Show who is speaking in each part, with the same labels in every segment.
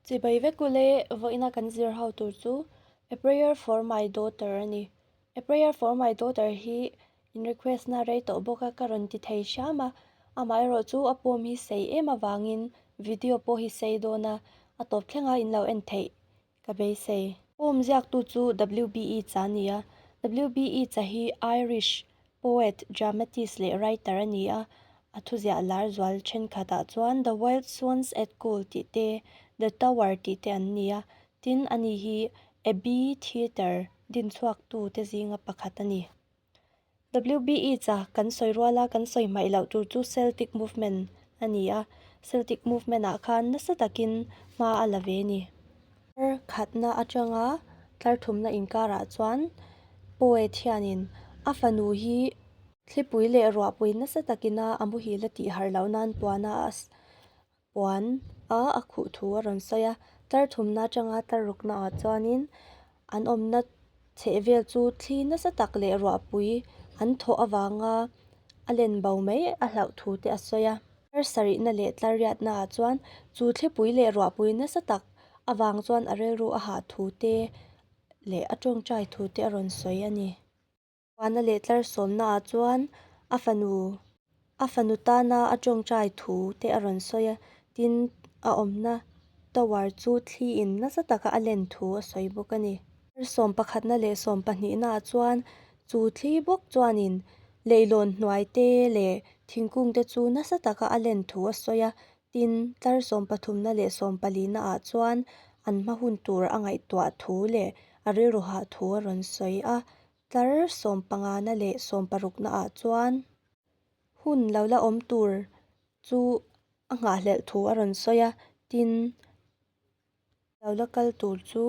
Speaker 1: Chibai vek u le, vawiina kan zir ho tur chu A prayer for my daughter a ni. A prayer for my daughter hi in request na rei tawh bawk a, ka rawn ti thei hriam a. Amah erawh chu a pawm hi sei em avangin video pawh hi sei dawn a, a tawp thleng a in lo en theih ka beisei. Pawm ziak tu chu WBE cha a ni a, WBE cha hi Irish Poet, dramatist leh writer a ni a. A thuziah lar zual thenkhatah chuan The Wild Swans at Goal tih te, The Tower tih te an ni a. Tin, ani hi Abbey Theatre dinchhuaktu te zinga pakhat a ni. WB Yeats a kan sawi rual a, kan sawi hmaih loh tur chu Celtic Movement a ni a. Celtic Movement-ah khan nasa takin hma a la ve a ni. Thar khatna atanga tlarthumna inkarah chuan poet hianin a fanu hi thlipui leh ruahpui nasa takina a muhil a tih harh loh nan puana a puan a a khuh thu a rawn sawi a. Tlarthumna atanga tlar ruk naah chuanin an awmna chheh vel chu thli nasa tak leh ruahpui an thawh avanga a len bo mai a hlauh thu te a sawi a. Thar sarihna leh tlarriatna ah chuan chu thlipui leh ruahpui nasa tak avang chuan a rilru a hah thu te leh a tawngtai thu te a rawn sawi a ni. Tlar huana leh tlar sawmna ah chuan a fanu A fanu tana a tawngtai thu te a rawn sawi a, tin, a awmna tower chu thli in nasa taka a len thu a sawi bawk a ni. Thar sawm pakhatna leh sawm pahnihnaah chuan chu thli bawk chuanin leihlawn hnuai te leh thingkung te chu nasa taka a len thu a sawi a, tin, thar sawm pathumna leh sawm palihnaah chuan an hma hun tur a ngaihtuah thu leh a rilru hah thu a rawn sawi a. Tlar sawm pangana leh sawm parukna ah chuan hun lo la awm tur chu a nghahhlelh thu a rawn sawi a, tin lo la kal tur chu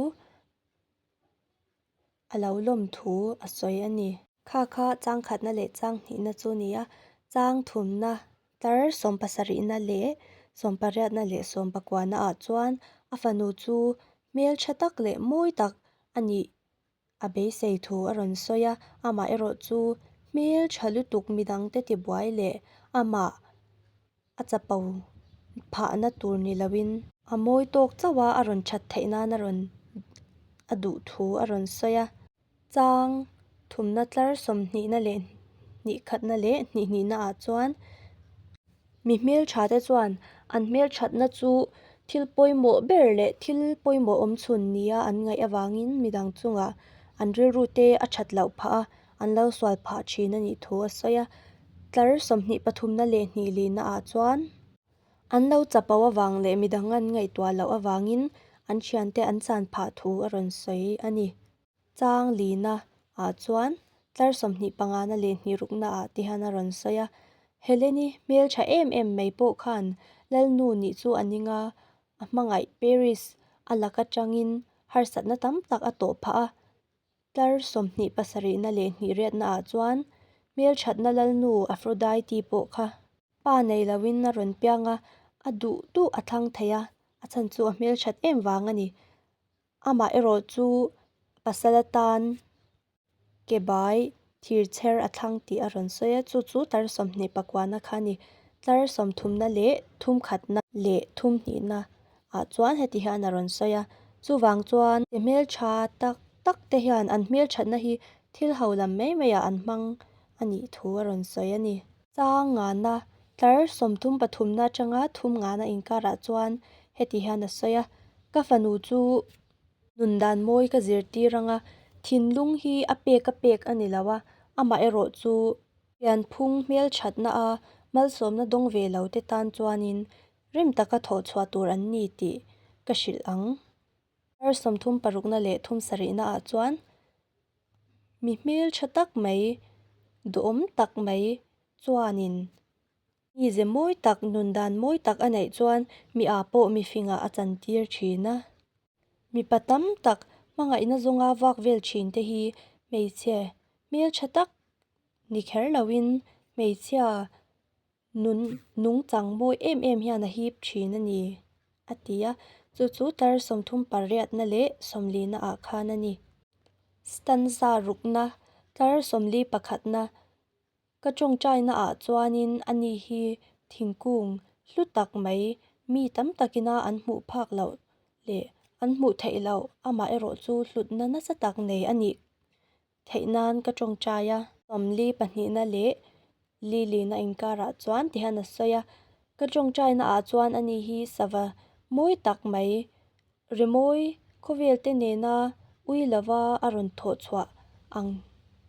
Speaker 1: a lo lawm thu a sawi a ni. Kha kha chang khatna leh chang hnihna chu ni a, chang thumna tlar sawm pasarihna leh sawm pariatna leh sawm pakuana ah chuan a fanu chu hmeltha tak leh mawi tak a nih A beisei thu a rawn sawi a, amah erawh chu hmel tha lutuk midang te tibuai leh amah a chapo phahna tur ni loin, a mawi tawk chauh a a rawn that theih nan a rawn a duh thu a rawn sawi a, chang thumna tlar sawmhnihna leh hnih khatna leh hnihnihna ah chuan. Mi hmelthate chuan an hmelthatna chu thil pawimawh ber leh thil pawimawh awmchhun nia an ngaih avangin midang chunga an rilru te a that loh phah a an lo sual phah thin a nih thu a sawi a tlar sawmhnih pathumna leh hnih lihna ah chuan an lo chapo avang leh midang an ngaihtuah loh avangin an thiante an chan phah thu a rawn sawi a ni. Chang lina ah chuan tlar sawmhnih pangana leh hnihrukna ah te hian a rawn sawi a, Helene i hmeltha em em mai pawh khan Lalnu nih chu a ning a, a hmangaih Paris a lak atangin harsatna tam tak a tawh phah a. Tlar sawmhnih pasarihna leh hnihriatna ah chuan hmelthatna Lalnu Aphrodite pawh kha pa nei loin a rawn piang a, a duh duh a thlang thei a, a chhan chu a hmelthat em vang a ni. Amah erawh chu pasal atan kebai thir chher a thlang tih a rawn sawi a, chu chu tlar sawmhnih pakuahna kha a ni. Tlar sawm thumna leh thum khatna leh thum hnihna ah chuan heti hian a rawn sawi a. Chuvang chuan ke hmeltha tak tak te hian an hmelthatna hi thil ho lam mai mai ah an hmang a nih thu a rawn sawi a ni. Chang nganna, tlar sawmthum pathumna atanga thum ngana inkarah chuan heti hian a sawi a, Ka fanu chu nun dan mawi ka zirtir anga, thinlung hi a pek a pek a ni lo a, amaherawh chu thianphung hmelthatna a malsawmna dawng ve lo te tan chuanin rim taka thawh chhuah tur an ni tih ka hrilh ang. Tlar sawmthum parukna leh thum sarihna ah chuan Mi hmeltha tak mai, duhawm tak mai chuanin mi ze mawi tak, nun dan mawi tak a neih chuan miah pawh mi fingah a chantir thin a. Mipa tam tak hmangaihna zawnga vak vel thin te hi hmeichhe hmeltha tak ni kher loin hmeichhia Nun nung chang mawi em em hian a hip thin a ni, a ti a, chu chu tlar sawmthum parriatna leh sawmlina ah khan a ni. Stanza rukna, tlar sawmli pakhatna, ka tawngtaina ah chuanin a ni hi thingkung hlu tak mai, mi tam takina an hmuh phak loh leh an hmuh theih loh amaherawhchu hlutna nasa tak nei a nih theih nan ka tawngtai a. Mamli pahnihna leh Lily-na inkarah chuan ti hian a sawi a, Ka tawngtaina ah chuan ani hi sava mawi tak mai rimawi khawvelte nena ui lova a rawn thawh chhuah ang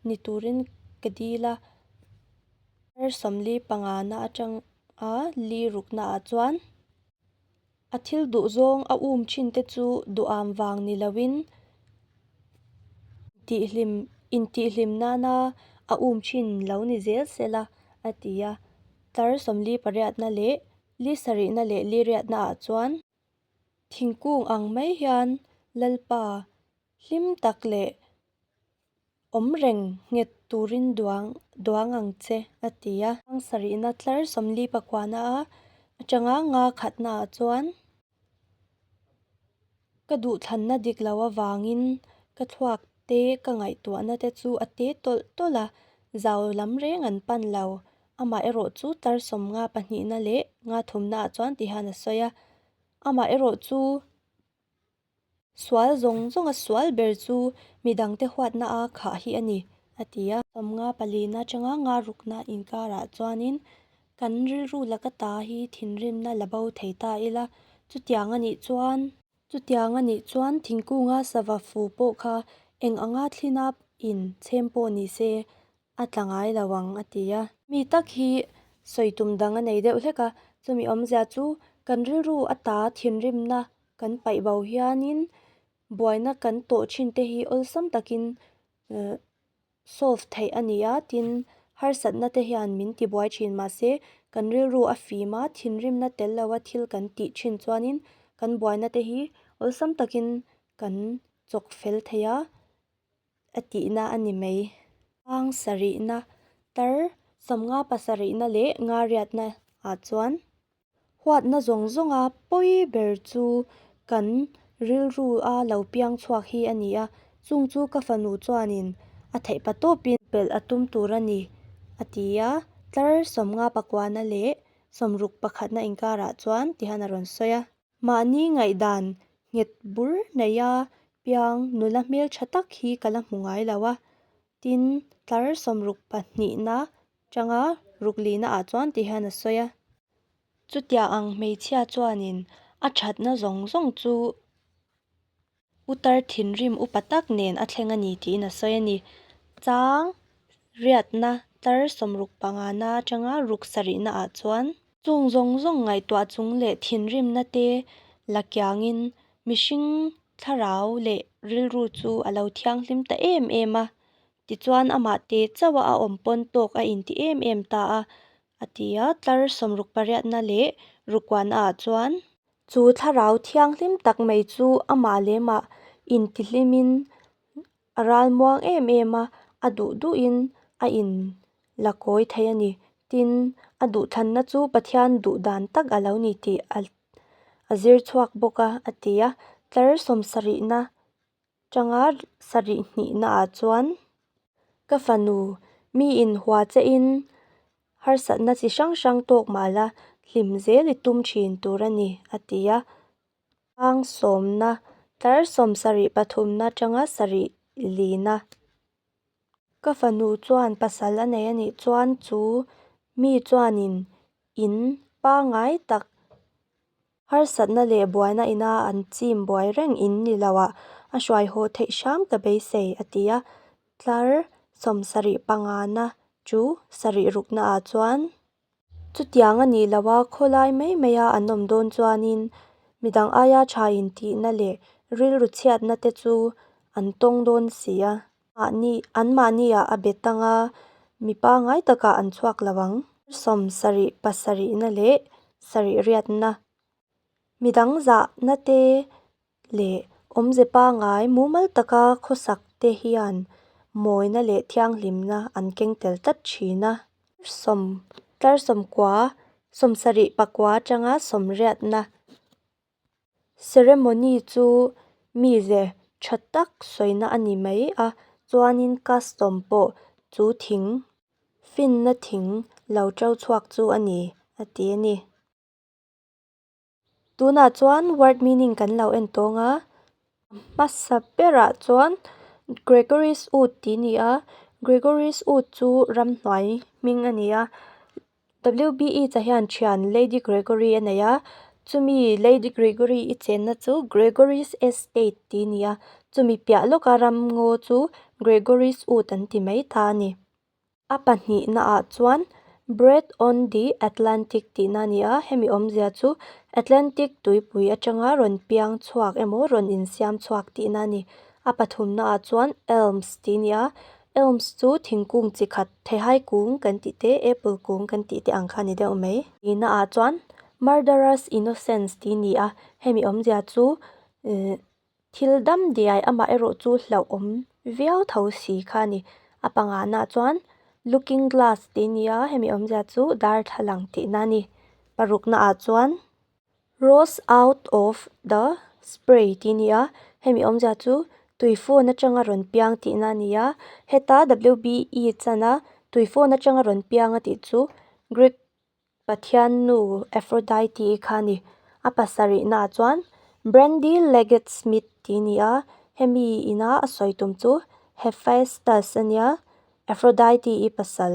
Speaker 1: ni turin ka dil a. Her Somli pangana atanga li rukna ah chuan A thil duh zawng a um thin te chu duham vang ni loin intihhlim intihhlim nana a um thin lo ni zel sel a, a ti a. Tlar sawmli pariatna leh li sarihna leh li riatna ah chuan thingkung ang mai hian Lalpa hlim tak leh awm reng nghet turin duang duang ang che, a ti a. Sangsarihna tlar sawmli pakuana a atanga nga khatnaah chuan ka duhthlanna dik loh avangin ka thluak te ka ngaihtuahna te chu a te tawlh tawlh a, zau lam reng an pan lo, amaherawh chu tlar sawm nga pahnihna leh nga thumnaah chuan tihian a sawi a, amaherawhchu Sual zawng zawnga sual ber chu midangte huatna a khah hi a ni, a ti a. Sawmnga pali na changa nga rukna inkarah chuanin kan rilru laka ta hi thinrimna la bo thei ta ila, chutiang a nih chuan. Chutiang a nih chuan thingkunga sava fu pawh kha eng anga thlin a in chhem pawh ni se a tla ngai lo ang, a ti a. Mi tak hi sawi tum dang a nei deuh hlek a, chumi awmzia chu kan rilru a ta thinrimna Kan paih bau hianin buaina kan tawh thin te hi awlsam takin uh solve theih a ni a tin harsatna te hian min tibuai thin mahse kan rilru a fim a thinrimna tel lo a thil kan tih thin chuanin kan buaina te hi awlsam takin kan chawk fel thei a a tihna a ni mai. Hmang sarihna tar sam nga pasarihna leh nga riatna ah chuan. Huatna zawng zawnga pawi ber chu kan rilru a lo piang chhuak hi a ni a, chung chu ka fanu chuanin a theih pa tawpin. Pelh a tum tur a ni, a ti a, tlar sawmnga pakuana leh sawmruk pakhatna inkarah chuan tihan a rawn sawi a. Mahni ngaihdan nghet bur naia piang nula hmeltha tak hi ka la hmu ngai lo a, tin tlar sawmruk pahnihna Changa ruk lihna ah chuan ti hian a sawi a. Chutia ang hmeichhia chuanin a thatna zawng zawng chu utar thinrim upa tak nen a thleng a ni tiin a sawi a ni. Chang riatna tlar sawm ruk panga na changa ruk sarihna ah chuan. Chung zawng zawng ngaihtuah chung leh thinrimna te la kiangin mihring thlarau leh rilru chu a lo thianghlim ta em em a. Tichuan amah te chauha a awm pawn tawk a inti em em ta a, a ti a, tlar sawmruk pariatna leh rukuan ah chuan. Chu thlarau thianghlim tak mai chu amah leh mah intihlimin a ralmuang em em a, a duh duh in a in la kawi thei a ni. Tin, a duhthlanna chu Pathian duh dan tak a lo ni tih a zir chhuak bawk a, a ti a, tlar sawm sarihna Tanga sarih hnihna ah chuan ka fanu mi in hua che in harsatna chi hrang hrang tawk mal a hlim zel i tum thin tur a ni a ti a. Tlang sawmna tlar sawm sarih pathumna tanga sarih lina ka fanu chuan pasal a nei a nih chuan chu mi chuan in in pangai tak. Harsatna leh buaina ina an chim buai reng in ni lo a, a hruai haw theih hram ta beisei, a ti a. Tlar sawm sarih pangana chu sarih ruknaah chuan. Chutiang a nih loh a, khawlai mai maia an awm dawn chuanin midang aia tha intihna leh rilru chhiatna te chu an tawng dawn si a. Mahni, an mahnia a be tang a, mi pangai takah an chhuak lo ang. Sawm sarih, pasarihna leh sarihriatna, mi dangzahna te leh awmze pangai mumal taka khawsak te hian mawina leh thianghlimna an keng tel tlat thin a. Sawm, tlarsawm kua, sawm sarih pakua atanga sawmriatna Ceremony chu mi ze tha tak sawina a ni mai a, chuanin custom pawh chu thing finna thing lo to chhuak chu a ni a ti a ni. Tunah chuan word meaning kan lo en tawng a, hmasa berah chuan Gregory's Wood tih a ni a, Gregory's Wood chu ramhnuai hming a ni a. WBE cha hian thian Lady Gregory a nei a, chumi Lady Gregory i chenna chu Gregory's Estate tih a ni a, chumi piah lawka ram ngaw chu Gregory's Wood an ti mai ta a ni. A pahnihna ah chuan Bread on the Atlantic tihna a ni a, hemi awmzia chu Atlantic tuipui atanga rawn piang chhuak emaw rawn insiam chhuak tihna a ni. A pathumna ah chuan Elms tih a ni a, Elms chu thingkung chi khat, thehai kung kan tih te, apple kung kan tih te ang kha a ni deuh mai. Ti na ah chuan murderers innocence ti ni a, hemi awmzia chu eh thil dam diai amah erawh chu hlauh awm viau tho si kha a ni. A pangah na chuan looking glass ti ni a, hemi awmzia chu darthlalang tih na a ni. Paruk na ah chuan Rose out of the spray tih a ni a, hemi awmzia chu tuifawn atanga rawn piang tihna a ni a, heta WBE chana tuifawn atanga rawn piang a tih chu Greek pathian nu Aphrodite kha a ni. A pasarihnaah chuan Brandy Leggett Smith tih a ni a, hemi ina a sawi tum chu Hephaestus a nia, Aphrodite i pasal.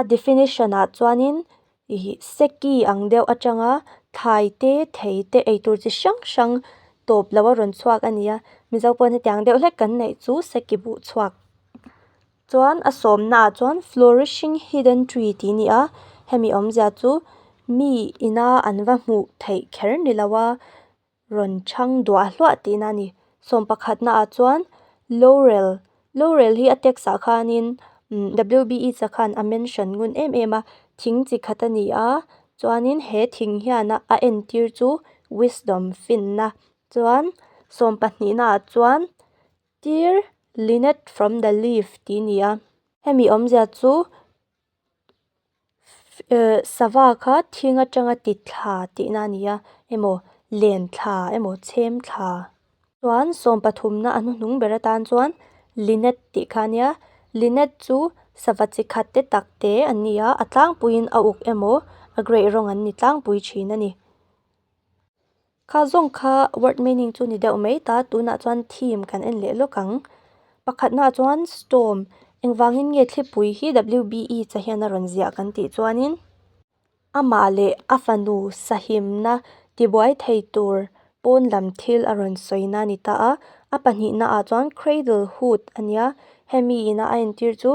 Speaker 1: A definition-ah chuanin ih seki ang deuh atanga thlai te thei te eitur chi hrang hrang tawp loh a rawn chhuak a ni a. Mizo pawhin heti ang deuh hlek kan neih chu seki buh chhuak. Chuan a sawmnaah chuan flourishing hidden tree tih ni a, hemi awmzia chu mi ina an va hmuh theih kher ni lo a. rawn chhang duah hluah tihna a ni sawm pakhat naah chuan lorel lorel hi a tax ah khanin umm wbe che khan a mention ngun em em a thing chi khat a ni a chuanin he thing hian a a entir chu wisdom finna chuan sawm pahnih naah chuan dear lynette from the leaf tih a ni a hemi awmzia chu-- Sava kha thing atanga ti thla tihna a ni a, emaw len thla, emaw chhem thla. Chuan sawm pathumna a hnuhnung ber atan chuan Lynette tih kha a nia, Lynette chu sava chi khatte takte an ni a, a tlangpuiin a uk emaw a gray rawng an ni tlangpui thin a ni. Kha zawng kha word meaning chu ni deuh mai ta, tunah chuan theme kan en leh lawk ang. Pakhatnaah chuan storm, engvangin nge thlipui hi WBE chahhian a rawn ziah kan tih chuanin amah leh a fanu sahimna tibuai thei tur pawn lam thil a rawn sawina a ni ta a. A pahnihnaah chuan cradle hood a nia, hemi ina a entir chu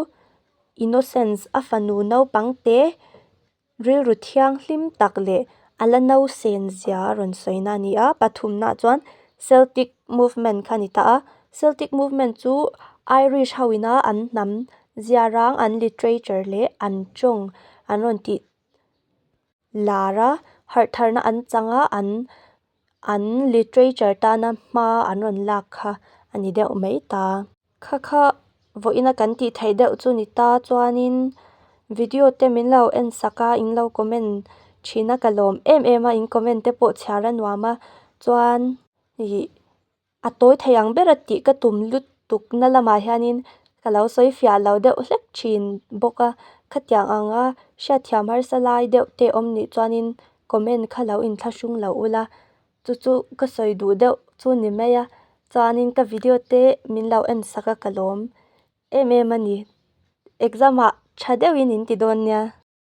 Speaker 1: innocence a fanu naupangte Rilru thiang hlim tak leh a la no sen zia rawn sawina a ni a, pathumnaah chuan Celtic Movement kha a ni ta a, Celtic Movement chu Irish ho ina an hnam zia rang an literature leh an tawng an rawn tih lar a harhtharna an changa an. An literature tana hma an rawn lak kha a ni deuh mai ta. Kha kha vawina kan tih theih deuh chu ni ta chuanin video te min lo en sak a in lo comment thin a ka lawm em em a in comment te pawh chhiar a nuam a chuan ih-- a tawi thei ang bera tih ka tum lutuk na lamah hianin ka lo sawi fiah lo deuh hlek thin bawk a khatiang anga hriatthiam harsa lai deuh te awm nih chuanin comment kha lo in thlahrung loh ula chu chu ka sawi duh deuh chu ni mai a chuanin ka video te min lo en sak a ka lawm em em a ni exam ah tha deuhin in ti dawn nia.